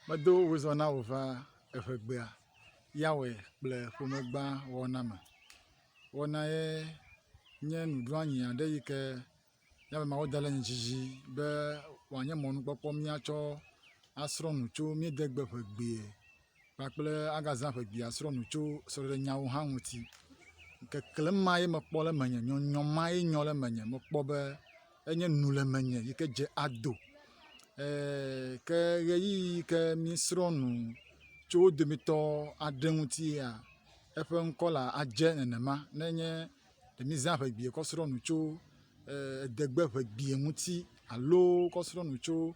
Medo wozɔ na wò va eŋegbea, Yahwe kple ƒomegba wɔna me. Wɔna ye nye nuɖoanyi aɖe yi ke Yahwe Mawu da ɖe mía dzi dzi be wòanye mɔnukpɔkpɔ míatsɔ asrɔ̃ nu tso míedegbe ƒe egbea. kpakple agazã ƒe gbea srɔ̃nu tso srɔ̃ɖenyawo hã ŋuti. Keklem ma ye mekpɔ le menye, nyɔnyɔm ma ye nyɔ le menye. Mekpɔ be enye nu le menye yi ke dze ado eee… ke ʋeyiʋi yi ke míesrɔ̃ nu tso wo dometɔ aɖe ŋuti yea, eƒe ŋkɔ la adze nenema ne nye ɖe míezã ƒe gbea kɔ srɔ̃ nu tso eee… edegbe ƒe gbea ŋuti alo kɔ srɔ̃ nu tso.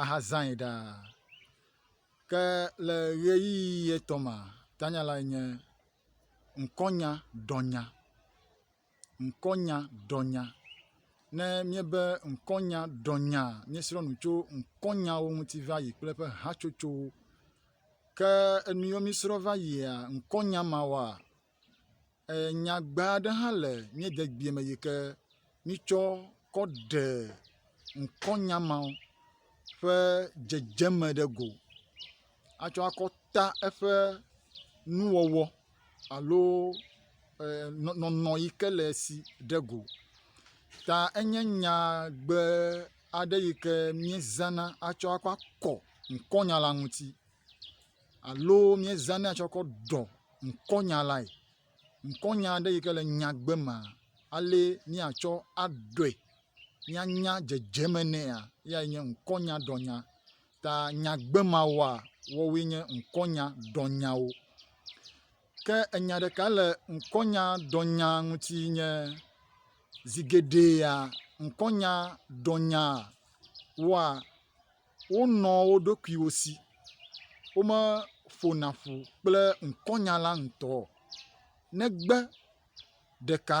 ahazãe ɖaa. Ke le ɣeyiɣi etɔ̃ mea, tanya lae nye ŋkɔnya ɖɔnya, ŋkɔnya ɖɔnya. Ne míebe ŋkɔnya ɖɔnya, míesrɔ̃ nu tso ŋkɔnyawo ŋuti va yi kple eƒe hatsotsowo. Ke enu yiwo míesrɔ̃ va yia, ŋkɔnya mawoa, nyagbe aɖe hã le mía dzegbea me yi ke míetsɔ kɔ ɖe ŋkɔnya ma ƒe dzedzeme ɖe go atsɔ akɔ ta eƒe nuwɔwɔ alo nɔnɔ yi ke le esi ɖe go. Ta enye nyagbe aɖe yi ke míezãna atsɔ akɔ akɔ ŋkɔnya la ŋuti. alo míezãnɛ tsɔ kɔ ɖɔ ŋkɔnya lae. Ŋkɔnya aɖe yi ke le nyagbe mea, ale míatsɔ aɖɔe míanya dzedzeme nɛa, eyae nye ŋkɔnyaɖɔnya. Ta nyagbe mawoa, woawoe nye ŋkɔnyaɖɔnyawo. Ke enya ɖeka le ŋkɔnyaɖɔnya ŋuti nye, zi geɖea, ŋkɔnyaɖɔnyaa, woa, Wonɔ wo ɖokuiwo si. Womeƒona ƒu kple ŋkɔnyala ŋutɔ o, negbe ɖeka,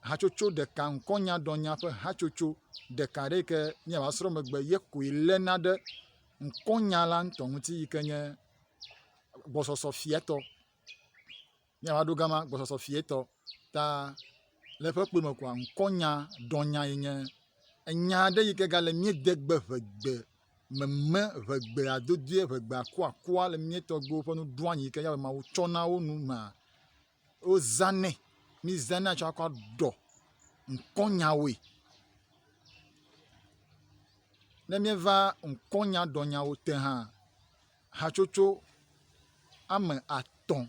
hatsotso ɖeka, ŋkɔnyadrɔ̃nya ƒe hatsotso ɖeka aɖe yi ke míava asrɔ̃ megbe ye koe léna ɖe ŋkɔnyala ŋutɔ ŋuti yi ke nye gbɔsɔsɔ fiatɔ. ne yeava ɖo gama gbɔsɔsɔ fietɔ ta le eƒe kpɔe me koa ŋkɔnya dɔnya ye nye enya aɖe yi ke gale mía de gbe ʋegbe meme ʋegbea dodoe ʋegbea kuakua le mía tɔgbuiwo ƒe nuɖoanyi yi ke Yehowa Mawu tsɔ na wo nu mea wozanɛ mizanɛ atsɔ akɔ aɖɔ ŋkɔnyawoe. Ne míeva ŋkɔnya dɔnyawo te hã hatsotso ame atɔ̃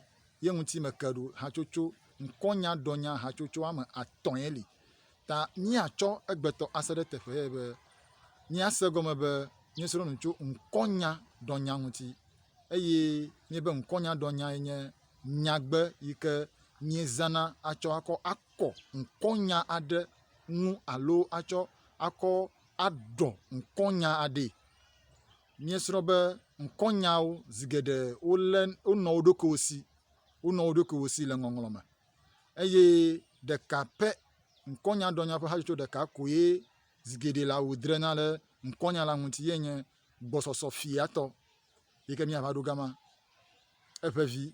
ye ŋuti meke ɖo. Hatsotso, ŋkɔnyadrɔ̃nya hatsotso ame atɔ̃ ye li. Ta míatsɔ egbetɔ ase ɖe teƒe ye be míase egɔme be míesrɔ̃ nu tso ŋkɔnyadrɔ̃nya ŋuti. Eye míebe ŋkɔnyadrɔ̃nya ye nye nyagbe yi ke míezãna atsɔ akɔ akɔ ŋkɔnya aɖe ŋu alo atsɔ akɔ aɖɔ ŋkɔnya aɖee. míesrɔ̃ be ŋkɔnyawo zi geɖe wolé wonɔ wo ɖokuiwo si, wonɔ wo ɖokuiwo si le ŋɔŋlɔ me eye ɖeka pɛ ŋkɔnyadrɔ̃nya ƒe hatsotso ɖeka koe zi geɖe la wodrena ɖe ŋkɔnya la ŋuti ye nye gbɔsɔsɔ fiatɔ yi ke míava ɖo gama eƒe vi.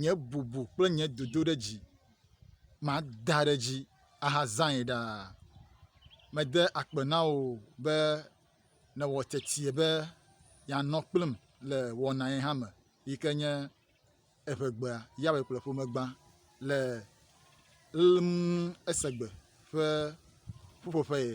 nye bubu kple nye dodoɖedzi mada ɖe edzi ahazãe ɖaa. Mede akpe na wò be nèwɔ tetie be yeanɔ kplim le wɔna ye hã me yi ke nye Eŋegbea, Yawe kple Ƒomegbã le Lm Esegbe ƒe ƒuƒoƒe ye.